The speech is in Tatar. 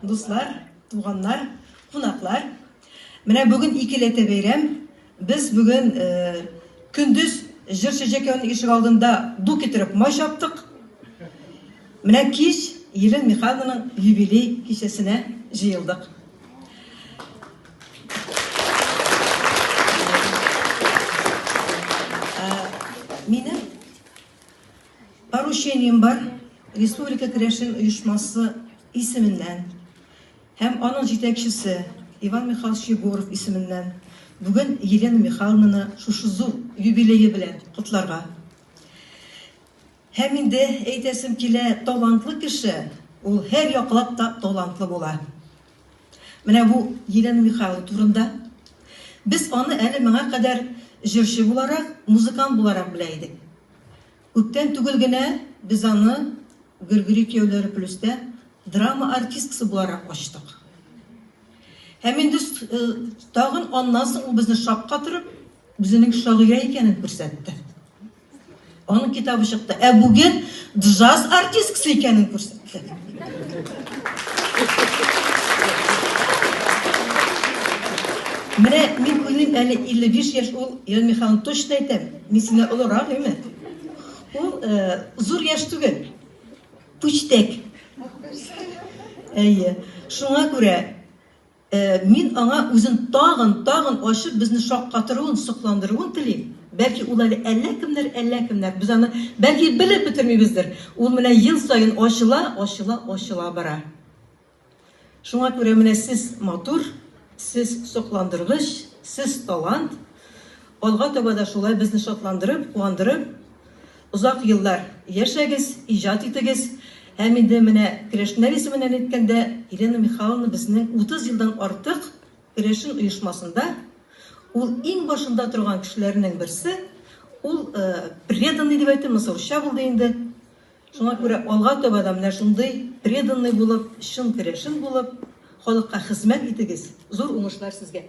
Дуслар, туганнар, кунаклар, менә бүген икеләтә бәйрәм. Без бүген көндез җырчы Җәкәүнең ишек алдында ду китереп май чаптык. Менә кич Елена Михайловнаның юбилей кичәсенә җыелдык. Минем Поручением бар, республика керәшен оешмасы исеменнән һәм аның җитәкчесе Иван Михайлович Егоров исеменнән бүген Елена Михайловнаны шушы зур юбилее белән котларга. Һәм инде әйтәсем килә, талантлы кеше, ул һәр яклап та талантлы була. Менә бу Елена Михайлова турында. Без аны әле моңа кадәр җырчы буларак, музыкант буларак белә идек. Күптән түгел генә без аны Гөргөри кияүләре плюста драма артисткасы буларак ачтык. Һәм инде тагын аннан соң ул безне шаккатырып, үзенең шагыйрә икәнен күрсәтте. Аның китабы чыкты. Ә бүген джаз артисткасы икәнен күрсәтте. Менә мин уйлыйм, әле 55 яшь ул, Ирен Михайловна, точно әйтәм, мин сине олырак, әйме? Ул э, зур яшь түгел, пүчтәк. Әйе, шуңа күрә Мин аңа үзен тагын, тагын ачып, безне шаккатыруын, сокландыруын телим. Бәлки, ул әле әллә кемнәр, әллә кемнәр. Без аны, бәлки, белеп бетермибездер. Ул менә ел саен ачыла, ачыла, ачыла бара. Шуңа күрә менә сез матур, сез сокландыргыч, сез талант. Алга таба да шулай безне шатландырып, куандырып. Озак еллар яшәгез, иҗат итегез! Һәм инде менә керәшеннәр исеменнән әйткәндә, Елена Михайловна безнең 30 елдан артык керәшен оешмасында ул иң башында торган кешеләрнең берсе, ул преданный дип әйтим, монысы русча булды инде. Шуңа күрә алга таба да менә шундый преданный булып, чын керәшен булып, халыкка хезмәт итегез. Зур уңышлар сезгә!